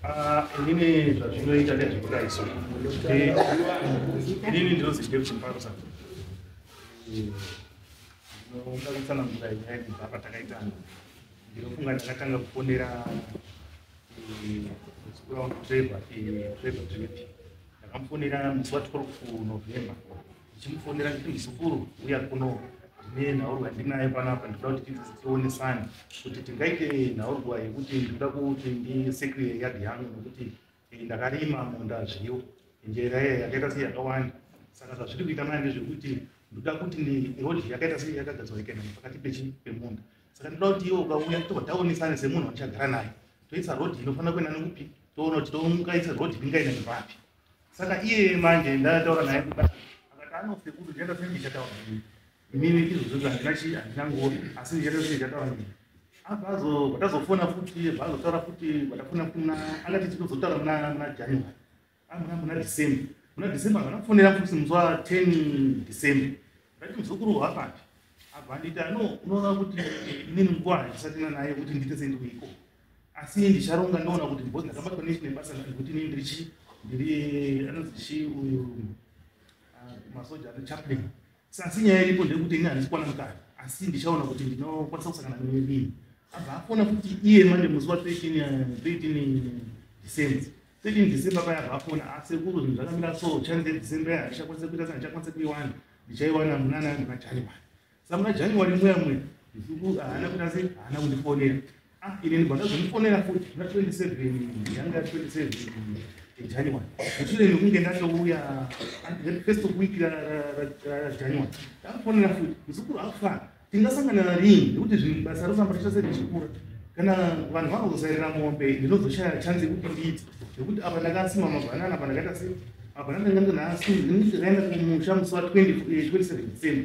Ah, inini zvazvinoita nezvekudaiso inini ndinozi deputy mparsa ndinokangisana mvura nyaya kubva patakaitana ndinofunga ndakatanga kufonera zikuraundu trevor trevor trevor ndakamufonera musi wa 12 november ndichimufonera nditi muzukuru uya kuno ndine nhaurwa ndinayo panapa ndikuda kuti tidzisi tionesane kuti tingaite nhaurwa yekuti ndikuda kuti ndisekure yadhi yangu nokuti eh, ndakarima munda zviyo njera iya yakaita sei yakawanda saka zvazviri kuita maya ndezvekuti ndoda kuti nirodhi yakaita sei yakagadzwa ikaenda pakati pechi pemunda saka ndoda kuti iwe ukauya tobva taonesane semunhu wandichagara naye toisa rodhi inofanira kuenda nekupi toona kuti tomukaisa rodhi ingaenda nepapi Saka iye manje ndataura naye kuda akati anofe kuti ndienda kuti ndichataura nini. Inini izvozvo zvandina chi handina ngoro asi ndichata kuti ndichataura nini. Abazo batazofona futi bazotaura futi batafona kuna angati tikuzotaura muna muna January. Amuna muna December. Muna December vanafonera futi muzwa 10 December. Ndati muzukuru hwapati. Abandita no unoona kuti inini nguva handisatina naye kuti ndite sendikuiko. asi ndicharonga ndoona kuti because ndakabatwa nechi nebasa nekuti ini ndiri chi ndiri anonzi chi uyu ah, masoja ane chaplain Sa- asi nyaya iripo ndeyekuti ini handisi kwana mukati asi ndichaona kuti ndinokwanisa kusangana nerini abva afona kuti iye manje musi wa 13 eh, 13 december 13 december paya abva afona asi kuru zvinhu zvakamira so chance december yaya ndichakwanisa kuita sa ndichakwanisa kuiwana ndichaiwana munana muna january samuna january mweya mweya nduku haana kuti asi haana kundifonera ah, ine ndibva ndazomufonera futi na 27 yanga 27 january mushure mekunge ndatouya first of week rajanuary ndakufonera futi muzukuru akufana tingasangana narini nekuti zvinhu basa rosamba richase richikura kana vanhu vakazosairira mombe ndinozoshaya chanzi yekuti ndiiti nekuti apa ndakasima mabhanana apa ndakaita se mabhanana ndanga ndinaasii ndinozoraenda kumusha musi wa 27 december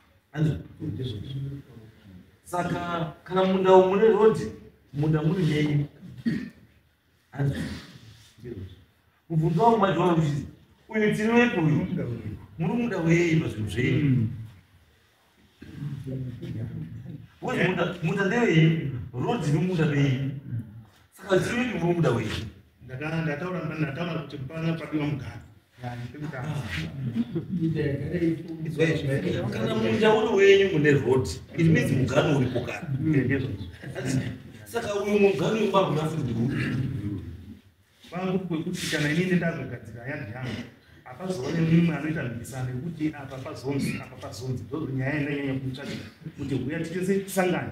saka kana munda umu mune rodhi munda muri menyu mubvunzo wangu majoa uchizi uyu tiri wepi uyu muri muda wei pazvinhu zvenyu hmm. munda ndewei rodhi nomunda vei saka tiri wepi muri muda wei ndataura ndataura kuti pana padiwa mugari kana munda uri wenyu mune road it means mugano uripo kana saka uyu mugano wemaguna futi vangu kwekuti kana inini ndazogadzira yadhi yangu apazoone mumwe anoita mhikisano yekuti apa pazonzi apa pazonzi ndozonyaya yandanyanya kutsvaga kuti huya titese tisangane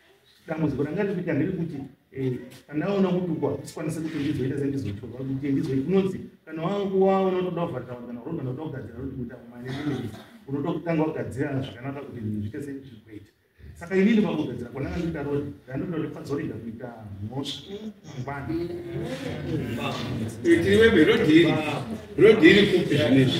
dambudziko ranga riri kuita ndiri kuti eh, pandaona kutukwa kusikwanise kuti ndizoita sendizotukwa kuti ndizoe kunonzi kana wakuwaona unotoda kuvharira vanhu kana uroda unotoda kugadzira kuti kuita kumane unotokutanga wagadzira zvakanaka kuti zviite sezvikuita saka inini pakugadzira kwananga ndiita rodi ndanoda kuti pazorega kuita mhosva mangwana itirivembe rodi iri rodi iri kupi zvinezvi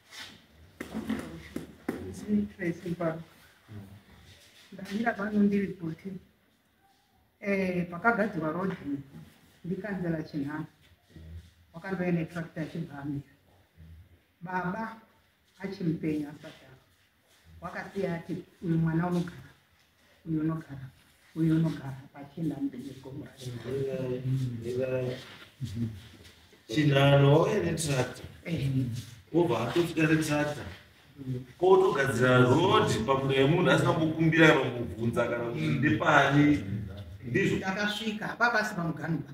ndamira pano ndiri kuti eh, pakagadzirwa road ndikanzela chinhano wakandouya netractor achibva amira baba achimupenyu asati wakasiya ati uyu mwana unogara uyu unogara uyu unogara pachina mbeegomura chinhano wauya netracta wobva atofita netracta kotogadzira rod pakuda yemunhu asina kukumbira kana kubvunza kana kuti ndepani ndizvo takasvika hapapasi pamuganubaa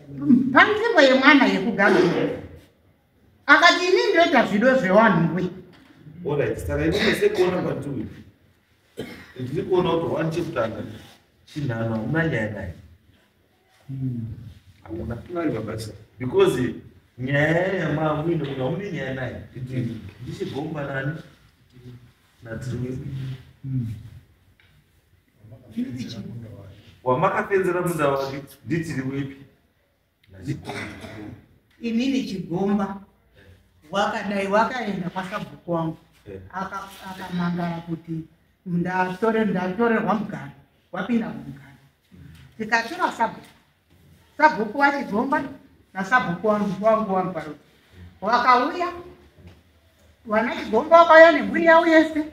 panzvimbo yemwana yekugadzira akati ini ndoita zvido zvewanhuwe orit saka ini mese kuona kwatiwi ndiri kuona kuti wani chekutanga chinhano hamuna nyaya naye hamuna pari vabasa because nyaya yamamuine munhu hamune nyaya naye ndichigomba nani natiri wamakapenzera munda wake nditiri wepi inini chigomba wakadai wakaenda kwasabhuku wangu eh. akamangara kuti ndatorerwa mugano wapinda mugano tikatora sabhuku Sabhuku wachidzomba nasabhuku wangu wangu wangu paro wakauya vana chigomba wakauya nemhuri yavo yese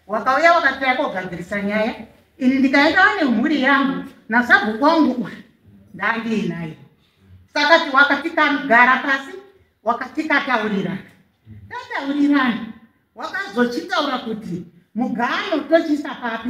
wakauya wakataya kogadzirisa nyaya ini ndikaenda vane mhuri yangu nasabhuku wangu uyu ndandiinayo sakati wakatikagara pasi wakatikataurirana tataurirana wakazochitaura kuti mugano tochiisa papi